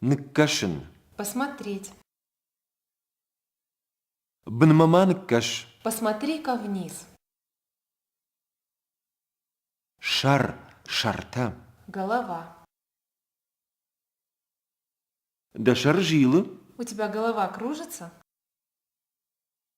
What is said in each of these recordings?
Ныккӕсын. Посмотреть. Бынмӕ ма ныккӕс. Посмотри-ка вниз. Шар, шартӕ. Голова. Дӕ шар зилы? У тебя голова кружится?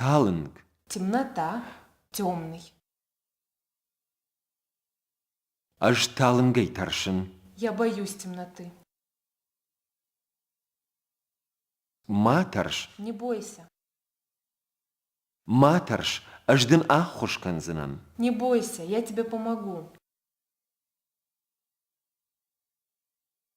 Талынг. Темнота. Темный. Ӕз талынгӕй тӕрсын. Я боюсь темноты. Ма тӕрс. Не бойся. Ма тӕрс, ӕз дын ӕххуыс кӕндзынӕн. Не бойся, я тебе помогу.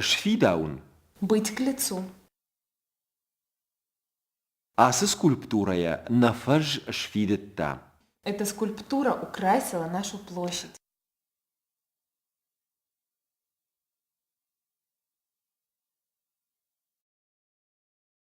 Сфидауын? Быть-к-лицу. Ацы скульптурӕйӕ нӕ фӕз сфидыдта. Эта скульптура украсила нашу площадь.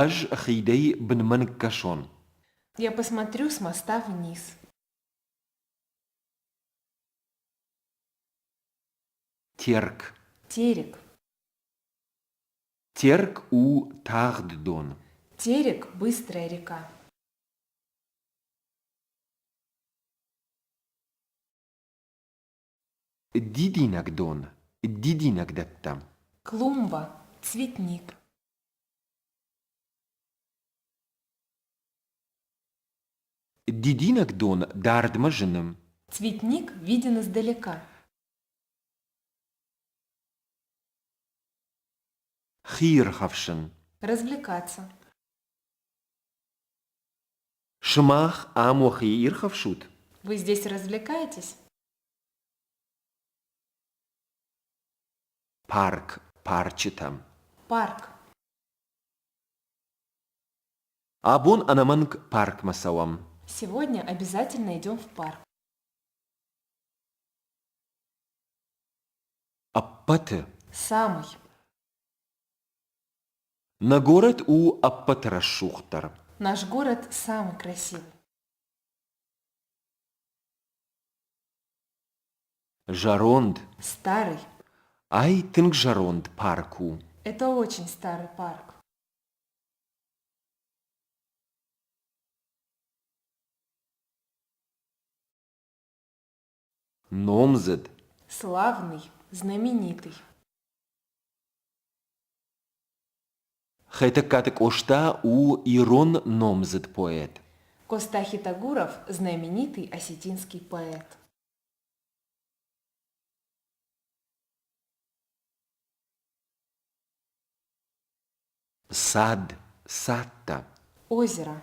Ӕз хидӕй бынмӕ ныккӕсон. Я посмотрю, смостав вниз. Терк. Терек. Терк у тагъд дон. Терек – быстрая река. Дидинӕг дон, дидинӕг дӕттӕм. Клумба, цветник. Дидинӕг дон дардмӕ зыны. Цветник виден издалека. Хи ирхӕфсын. Развлекаться. Сымах ам уӕхи ирхӕфсут? Вы здесь развлекаетесь? Парк парчытӕм. Парк. Абон ӕнӕмӕнг паркмӕ цӕуӕм. Сегодня обязательно идем в парк. Ӕппӕты. Самый. Нӕ горӕт у ӕппӕт рӕсугъддӕр. Наш город самый красив. Зӕронд. Старый. Ай тынг зӕронд парк у. Это очень старый парк. Номдзыд. Славный. Знаменитый. Хетӕгкаты Къоста у ирон номдзыд поэт. Костахи Тагуров – знаменитый осетинский поэт. Сад, садта. Озеро.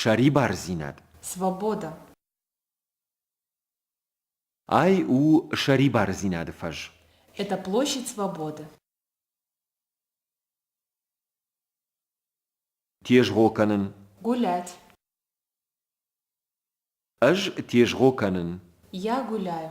Сӕрибардзинад. Свобода. Ай у сӕрибардзинады фӕз. Это площадь свободы. Тезгъо кӕнын. Гулять. Ӕз тезгъо кӕнын. Я гуляю.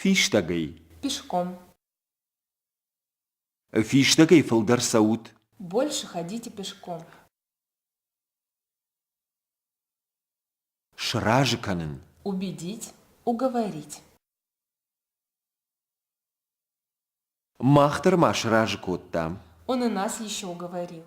Фистӕгӕй. Пешком. Фистӕгӕй фылдӕр цӕут. Больше ходите пешком. Сразы кӕнын. Убедить. Уговорить. Мах дӕр ма сразы кодтам. Он и нас еще уговорил.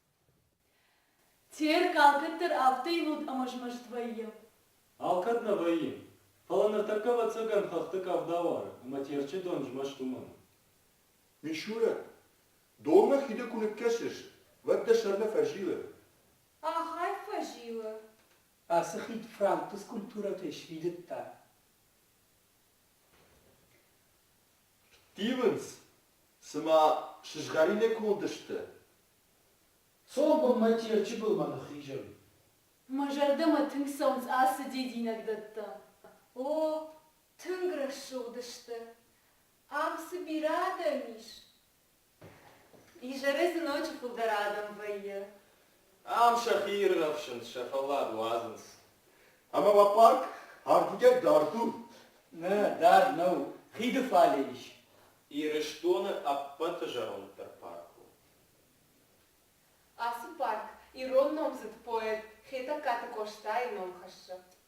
Терк алкӕддӕр афтӕ ивылд ӕмӕ змӕст вӕййы. Алкӕд нӕ вӕййы. Фӕлӕ ныртӕккӕ ӕвӕццӕгӕн хӕхты къӕвда уары ӕмӕ Терчы дон змӕст уымӕн. Мишурӕ, донмӕ хиды куы ныккӕсыс, уӕд дӕ сӕр нӕ фӕзилы? Ахӕм фӕзилы? Ацы хид францты скульптурӕтӕй сфидыдта. Тивынц, цыма сызгъӕрин эконд сты. Цом бынмӕ Терчы былмӕ ныххизӕм. Мӕ зӕрдӕмӕ тынг цӕуынц ацы дидинӕг дӕттӕ. О, тынг рӕсугъд сты. Ам цы бирӕ адӕм ис? Изӕры дзы ноджы фылдӕр адӕм вӕййы. Ам сӕхи иргъӕвсынц, сӕ фӕллад уадзынц. Ӕмӕ уӕ парк ардыгӕй дард у? Нӕ, дард нӕу, хиды фале ис. Ирыстоны ӕппӕты зӕронддӕр парк у. Ацы парк ирон номдзыд поэт Хетӕгкаты Къостайы ном хӕссы.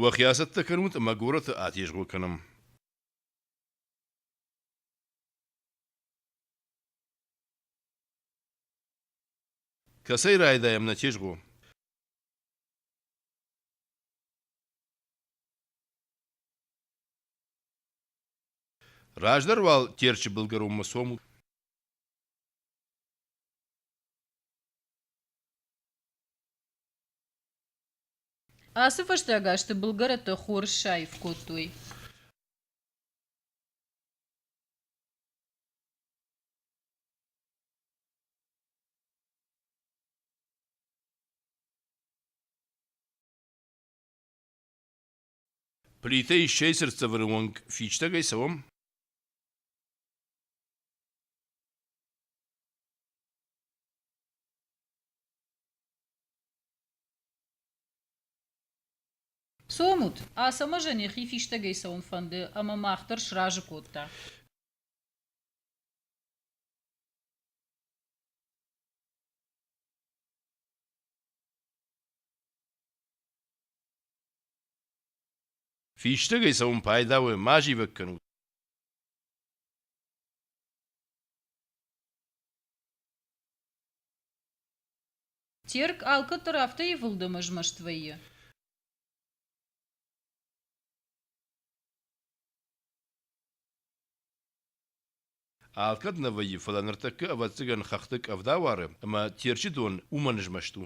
Уӕхи ацӕттӕ кӕнут ӕмӕ горӕты атезгъо кӕнӕм. Кӕцӕй райдаем на тезгъо? Раздӕр уал Терчи былгӕронмӕ цомут. Ацы фӕстаг азты былгӕрӕттӕ хорз саив кодтой. Плитӕ иссӕй цыртдзӕвӕны онг фистӕгӕй цӕуӕм. Цомут, Ацӕмӕзӕн йӕхи фистӕгӕй цӕуын фӕнды, ӕмӕ мах дӕр сразы кодта. Фистӕгӕй цӕун пайдауӕ ма зивӕг кӕнут. Терк алкӕддӕр афтӕ ивылдӕм ызмӕст вӕййы. Алкӕд нӕ вӕййы, фӕлӕ ныртӕккӕ ӕвӕццӕгӕн хӕхты къӕвда уары, ӕмӕ Терчы дон уымӕн ызмӕст у.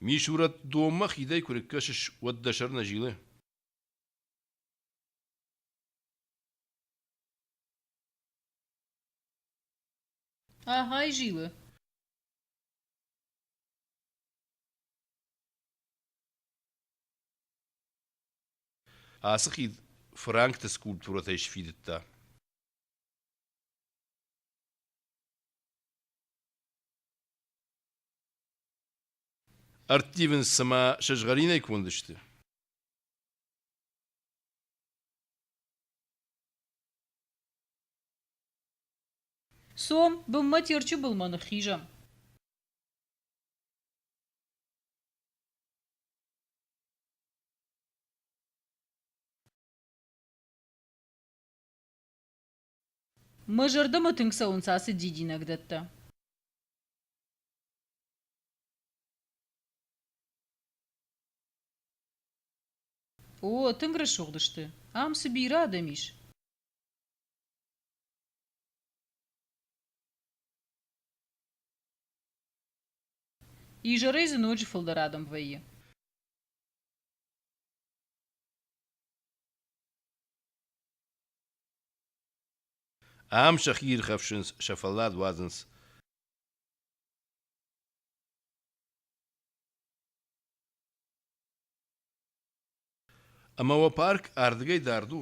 Мисурӕт-донмӕ хидӕй куы рыккӕсыс, уӕд дӕ сӕр нӕ зилы? Ӕгай зилы. Ацы хид фыранкты скульптурӕтӕй сфидыдта. ӕрттивынц цыма сызгъӕринӕй кондысты. Цом, бынмӕ Терчы былмӕ ныххизӕм. Мӕ зӕрдӕмӕ тынг цӕуынц ацы дидинӕгдӕттӕ. О, тынг рӕсугъд сты. Ам цы бирӕ адӕм ис. Изӕрӕй дзы ноджы фылдӕр адӕм вӕййы. Ам сӕхи ирхӕфсынц, сӕ фӕллад уадзынц. Ӕмӕ уӕ парк ардыгӕй дард у?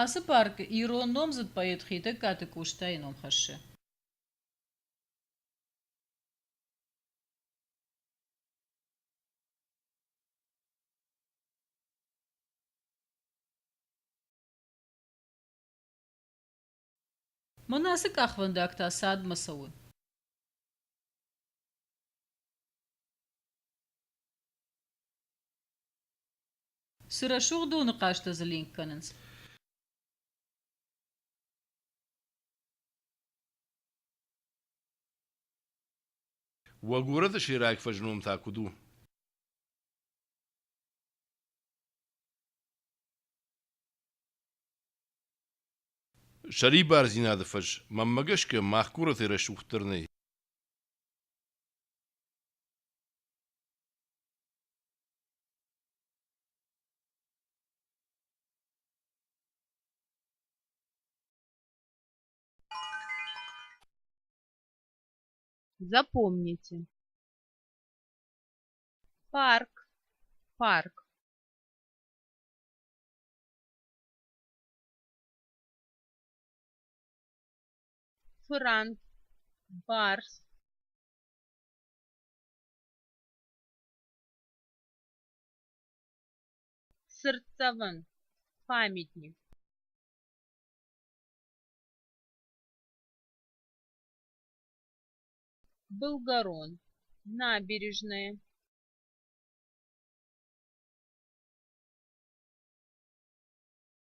Ацы паркы ирон номдзыд поэт Хетӕгкаты Къостайы ном хӕссы. Мӕнӕ ацы къахвӕндаг та цадмӕ цӕуы. Цы рӕсугъд доны хъазтӕ дзы ленк кӕнынц? Уӕ горӕты сӕйраг фӕзном та куыд у? Сӕрибардзинады фӕз мӕнмӕ гӕсгӕ мах горӕтӕй рӕсугъддӕр нӕй. Запомните. Парк, парк. франк барс сырцовын памятник былгорон набережные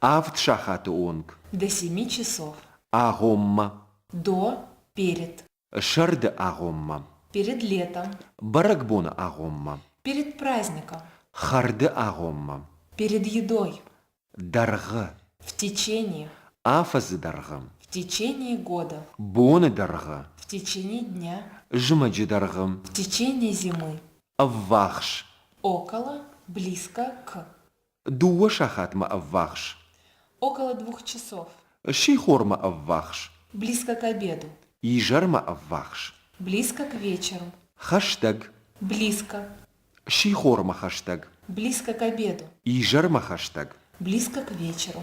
Авд сахаты онг. До семи часов. Агъоммӕ. До, перед. Сӕрды агъоммӕ. Перед летом. Бӕрӕгбоны агъоммӕ. Перед праздником. Хӕрды агъоммӕ. Перед едой. Дӕргъы. В течение. Афӕдзы дӕргъы. В течение года. Боны дӕргъы. В течение дня. Зымӕджы дӕргъы. В течение зимы. Ӕввахс. Около, близко, к. Дыууӕ сахатмӕ ӕввахс. Около двух часов. Сихормӕ ӕввахс. Близко к обеду. Изӕрмӕ ӕввахс. Близко к вечеру. Хӕстӕг. Близко. Сихормӕ хӕстӕг. Близко к обеду. Изӕрмӕ хӕстӕг. Близко к вечеру.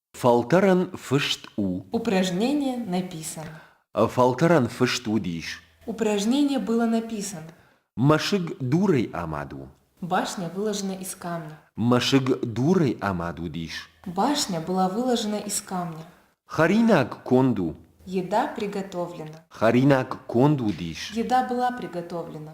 Фӕлтӕрӕн фыст у. Упражнение написан. Фӕлтӕрӕн фыст уыдис. Упражнение было написан. Мӕсыг дурӕй амад у. Башня выложена из камня. Мӕсыг дурӕй амад уыдис. Башня была выложена из камня. Хӕринаг конд у. Еда приготовлена. Хӕринаг конд уыдис. Еда была приготовлена.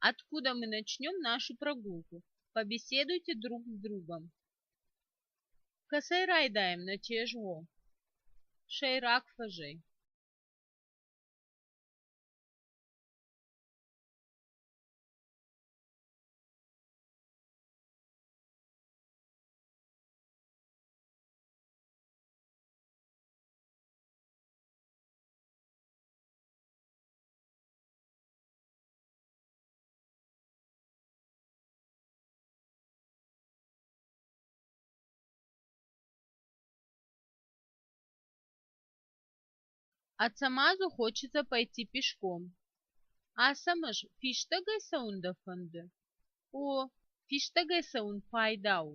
откуда мы начнем нашу прогулку побеседуйте друг с другом кӕцӕй райдайӕм нӕ чезго сӕйраг фӕзӕй Ацӕмӕзы хочется пойти пешком. Ацӕмӕз фистӕгӕй цӕуын дӕ фӕнды? О, фистӕгӕй цӕуын пайда у.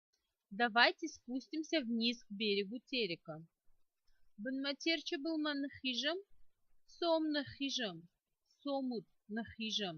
давайте спустимся вниз к берегу терека бынмӕ терчы былмӕ ныххизӕм сом ныххизӕм сомут ныххизӕм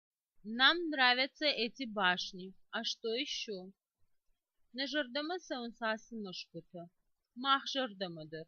Нам нравятся эти башни. А что еще? Нӕ зӕрдӕмӕ цӕуынц ацы мӕсгуытӕ. Мах зӕрдӕмӕ дӕр.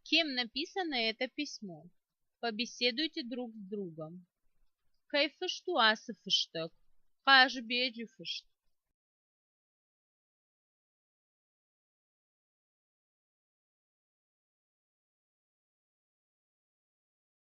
кем написано это письмо побеседуйте друг с другом кайфышту ацы фыстӕг хъазбеджы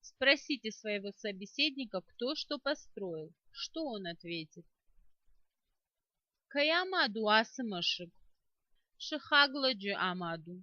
спросите своего собеседника кто что построил что он ответит кӕй амад у ацы мӕсыг сыхагладжы амад у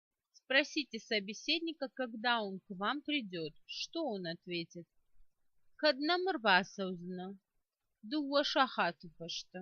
Спросите собеседника, когда он к вам придет, что он ответит. Кӕд нӕмӕ рбацӕудзынӕ? Дыууӕ сахаты фӕстӕ.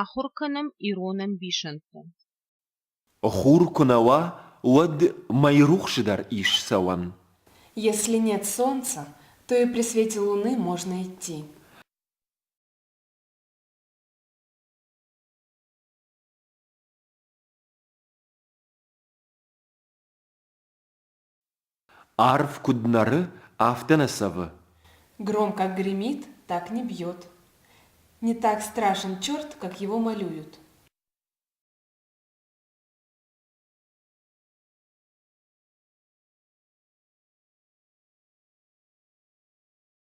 Ахуыр кӕнӕм ирон ӕмбисӕндты. Хур куы нӕ уа, уӕд мӕйрухсы дӕр ис цӕуӕн. Если нет солнца, то и при свете луны можно идти. Арв куыд нӕры, афтӕ нӕ цӕвы. Громко гремит, так не бьет. Не так страшен черт, как его малюют.